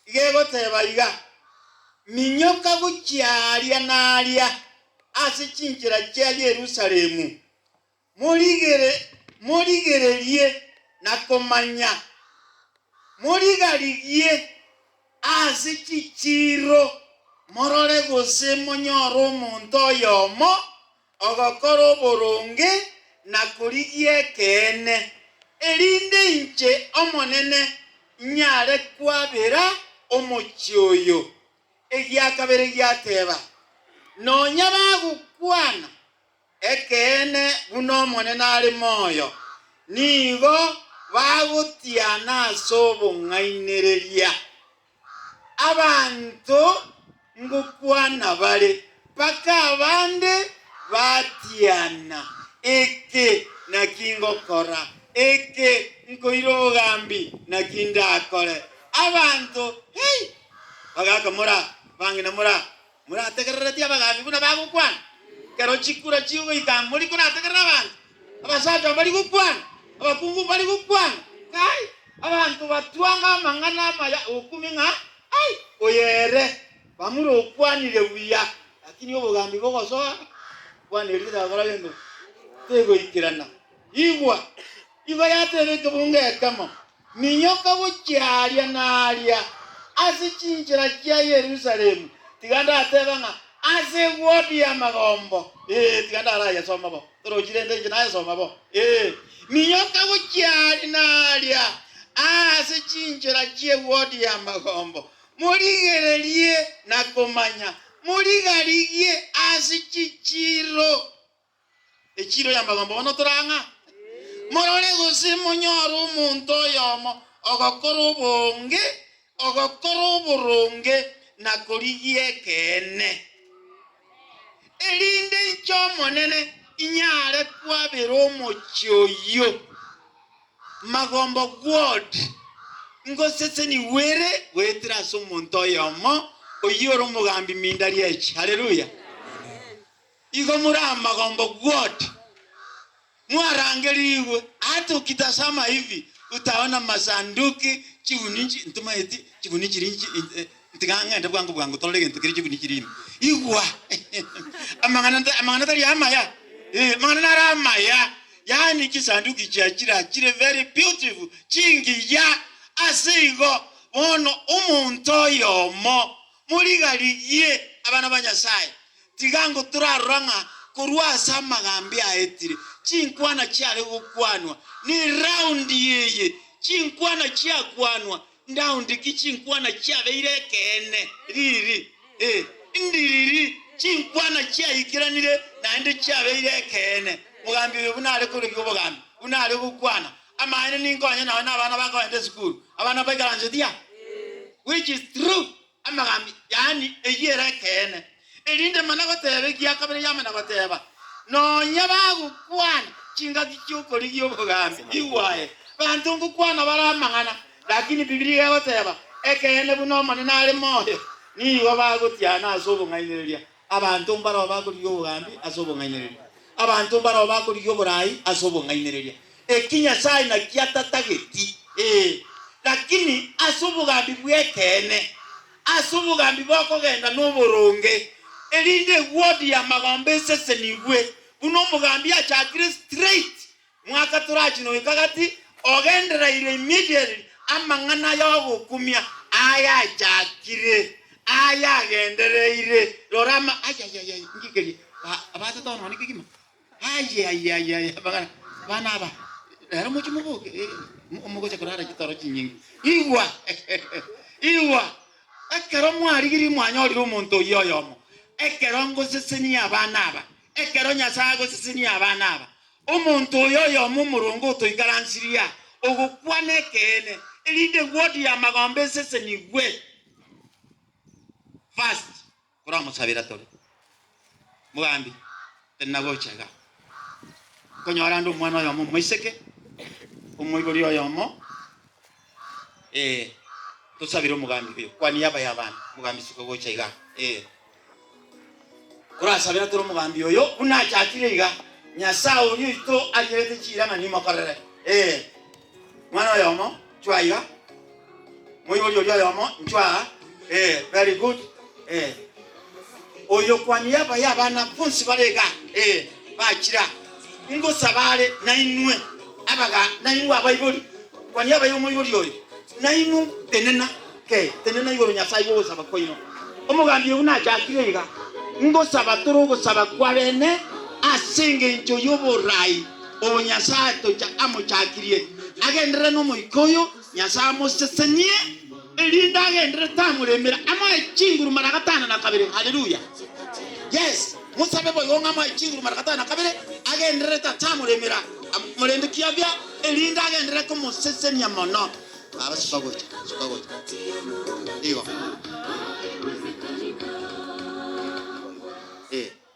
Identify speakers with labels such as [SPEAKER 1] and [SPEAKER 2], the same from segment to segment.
[SPEAKER 1] iga egoteba iga, Minyoka gochia aaria na aaria ase chinchera chia Yerusalemu, morigere, morigererie na komanya, morigarigie ase chichiiro, morore gose monyore omonto oyomo, Ogokora oboronge na korigia ekeene, erinde inche Omonene nyare kwabera omochie oyo. Egia kabere giateba, Nonya bagokwana ekeene buna Omonene are moyo, nigo bagotiana ase obong'ainereria. Abanto ngokwana bare, mpaka abande batiana, Eke naki ngokora? Eke nkoire obogambi naki ndakore? Abanto, Hei! Bagakamora, bang'ina mora. Morategerereti abagaambi buna bagokwana? Ekero chikura chigoika mori korategerere abanto? Abasacha mbari gokwana? Abakungu mbari gokwana? Kai, abanto batwanga amang'ana amaya okumi ng'a, Ai, oyo ere! Bamura okwanire buya, lakini obogaambi bogosoa okwana erio tibakora gento, tegoikerana. Igwa! Igo yateebetwe bonge ekemo, Minyoka gochia aaria na aaria ase chinchera chia Yerusalemu, tiga ndatebe ng'a ase egwoti y'amagombo, ee, tiga ndarayesome bo orochi, rende inche nayesome bo, ee, minyoka gochia aaria na aaria ase chinchera chi'egwoti y'amagombo, morigererie na komanya, morigarigie ase chichiiro. Echiiro y'amagambo bono tore ang'a. Morore gose monyore omonto oyomo ogokora obonge, ogokora oboronge, na korigia ekeene, erinde inche Omonene inyare kwabera omochie oyio magombo gwod. Ngosesenigwe ere goetera ase omonto oyomo oyio ore omogambi mindari'echi. Haleluya! Igo more amagombo gwoti, mwarangerigwe, Hata ukitasama hivi utaona masanduki chibuni nchi, ntuma eti chibuni chiri nchi, ntiga ng'ende bwango bwango torore gento kere chibuni chiri ime. Igwa, amang'ana nta- amang'ana tari amaya, eh, amang'ana nare amaya, yaani chisanduki chia chira chire very beautiful, chingiya. Ase igo bono omonto oyomo morigarigie abana ba Nyasaye, Tiga ngo torarora ng'a korwa ase amagambi aetire chinkwana chiare gokwanwa ni raundi eye, chinkwana chiakwanwa ndaundi ki chinkwana chiabeire ekeene riri? Ee, ndiriri, chinkwana chiaikeranire naende chiabeire ekeene. Mogambi oyo buna are korigia obogambi, buna are gokwana amaene ninko onye nao nabana bakoenta esukuru, abana baikaranse tia, which is true. Amagambi, yaani eyio ere ekeene. Erinde mana goteeba egia kabere yamana goteeba, Nonya bagokwana chingaki chi'okorigia obogambi, igwa aye. Banto ngokwana bare amang'ana, lakini Bibilia iga egoteeba, Ekeene buna Omonene are moyo, nigo bagotiana ase obong'ainereria. abanto mbarao bakorigia obogambi ase obong'ainereria, abanto mbarao bakorigia oboraai ase obong'ainereria, eki Nyasae naki atatageti, ee, lakini ase obogambi bw'ekeene, ase obogambi bokogenda noboronge, erinde ewodi y'amagombe esesenigwe, buna omogambi achakire straight Mwaka torachi noyoka gati ogendereirio immediately amang'ana y'ogokumia ayachakire, ayagendereire, rora ama, ayayayay, ngigerie, ba, abatata bono mani kegima, ayayayay, amang'ana, bana aba, rero moche moboke, eh, mo- mogocha korara chitoro chinyinge. Igwa, igwa, ekero mwarigirie mwanyorire omonto oyio oyomo, ekero ngosesenia abana aba, ekero Nyasae agosesenia abana aba, Omonto oyo oyomo omoronge otoikaransirie aa, ogokwana ekeene, erinde eguodi y'amagombe esesenigwe. First, koramosabera tore, mogambi, tari nagocha iga, nkonyora ande omwana oyomo omoiseke, omoibori oyomo, Ee, tosabire omogambi oyo. Kwa niaba y'abaana, omogambi isiko gocha iga. Ee. Korasabera toro omogambi oyo, buna achakire iga, Nyasae oria oito arigerete chiirang'a nimokorere. Ee. Mwana oyomo, chwa iga. Moibori oria oyomo, nchwa aa. Ee, very good. Ee, oyokwani yabaye abana bonsi bare igaa. Ee, bachira. Ingosaba are nainwe abaga, nainwe abaibori, kwani yabaye omoibori oyo nainwe. Tenena, ke, tenena igoro Nyasae bw'ogosaba kwaino. Omogambi oyio nachakire iga, Ingosaba tore ogosaba kwa bene ase engencho y'oboraai obo Nyasae tocha amochakirie, agenderere n'Omoika oyo, Nyasae amosesenie, erinde agenderere tamoremera, amoe chinguru mara gatano na kabere. Haleluya! Yes, mosabe boigo ng'a amoe chinguru mara gatano na kabere, agenderere tatamoremera, am- morende kiagea, erinde agenderere komosesenia mono. Baba, soka gocha, soka gocha. Igo. Eh.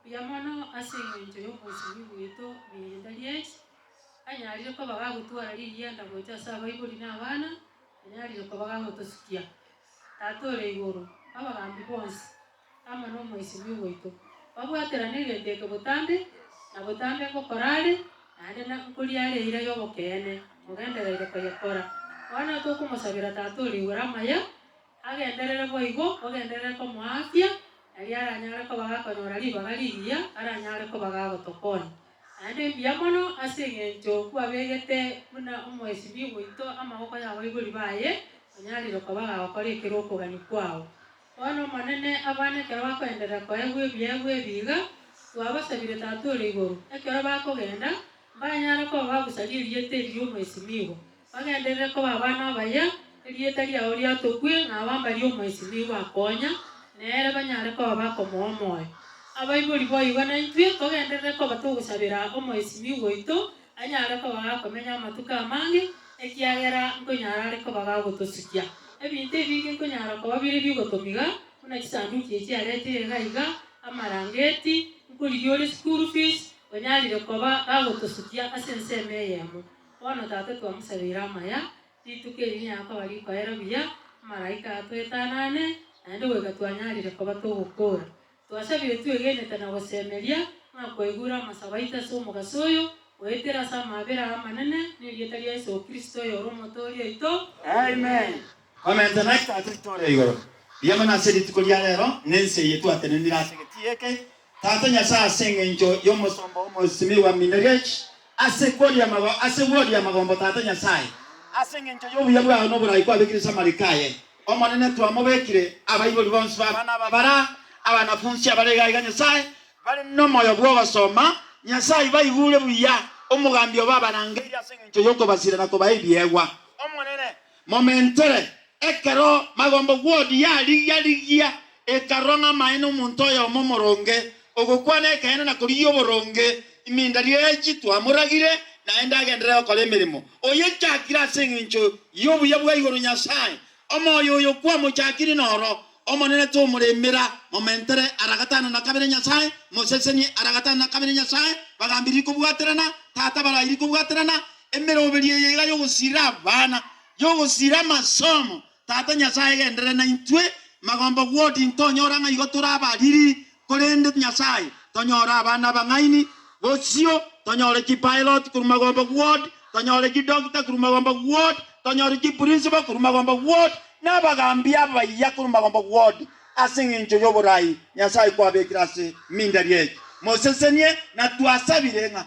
[SPEAKER 2] Mbuya mono ase engencho y'obosibwi bwaito rienda ri'ense, anyarire koba gagotwara ririenda gocha ase abaibori na abana, anyarire koba gagotosukia. Tata ore igoro, abagambi bonsi, amo n'omoisibwi bwaito, babwaterane egento eke botambe na botambe ngokorare, naende na nkoriare eira y'obokeene, mogendereire koyekora. Bono tokomosabera Tata ore igoro amaya. Agenderere boigo, ogenderere komoaafia, erio aranyare koba gakonyora ribaga rigiya, aranyare koba gagotokonya. Naende mbuya mono ase engencho kwabegete buna omoesimio oito amaboko y'abaibori baye, onyarire koba gagokora ekero okogania kwao. Bono Omonene abane ekero bakoenderera koegwa ebiegwa ebi iga, twabasabire Tata ore igoro, ekero bakogenda, mbanyare koba bagusaria erieta eri ri'omoesimio. Bagenderere koba abana abaye, erieta riao riatokwe, na aba mbaria omoiseke nigo bakonya, na ere banyare koba bakomoa omoyo. Abaibori boigo naintwe togenderere koba togosabera omoisimigwa oito anyare koba gakomenya amatuko amange, ekiagera nkonyara are koba gagotosukia. Ebinto ebinge nkonyara koba bire bigotomiga, buna chisanduki echi arete iga iga, amarangeti, nkorigia ore school fees, onyarire koba gagotosukia ase ensemo eyemo. Bono, Tata, twamosabeire amaya, rituko eri niakoba rikoero buya, amalaika atwetanane, naende goika twanyarire koba togokoora. Twasabire twegenete na gosemeria, ng'a kwaigure amasabo aito ase omogaso oyo, goetera ase amaabera aa amanene, nerieta ria Yeso Kristo, oyore Omotoori oito. Amen.
[SPEAKER 1] Momentwe na etaata yaito ore igoro, rigia mono ase rituko ria rero, na ense eye twatenenire ase egetii eke, Tata Nyasae, ase engencho y'omosomba omosimigwa Minerich, ase kworia mago, ase gworia magombo, Tata Nyasae, ase engencho y'obuya bwao na oborai kwabekire ase amariko aye, Omonene, twamobekire abaibori bonsi b'abana aba bara abanafunsi abare iga iga, Nyasae, bare nomoyo bw'ogosoma, Nyasae, baigure buya omogambi obo abarangeirie ase engencho y'okobasira na kobae ebiegwa, Omonene, Momentere. Ekero Magombo Ward yarigia rigia ekarora ng'a amaene omonto oyomo omoronge, ogokwana ekeene na korigia oboronge imindari echi twamoragire naende agenderere gokora emeremo. Oyechakire ase engencho y'obuya bwa igoro Nyasae, omoyo oyo kwamochakire noro Omonene tomoremera. Momentere ara gatano na kabere Nyasae mosesenie ara gatano na kabere Nyasae bagambiririe kobwaterana Tata barairie kobwaterana Emeroberio eye iga yogosiirera abana, yogosiirera amasomo. Tata Nyasae genderere naintwe. Magomba Ward ntonyora ng'a igo tore abariri, korende Nyasae tonyore abana abang'aini. Bosio tonyore ki Pilot korwa Magomba Ward, tonyore ki Doctor korwa Magomba Ward, tonyore ki Principal korwa Magomba Ward, na abagambia abaya korwa Magomba Ward. Ase eng'encho y'oboraai Nyasae kwabekire ase mindari eye, mosesenie, na twasabire ng'a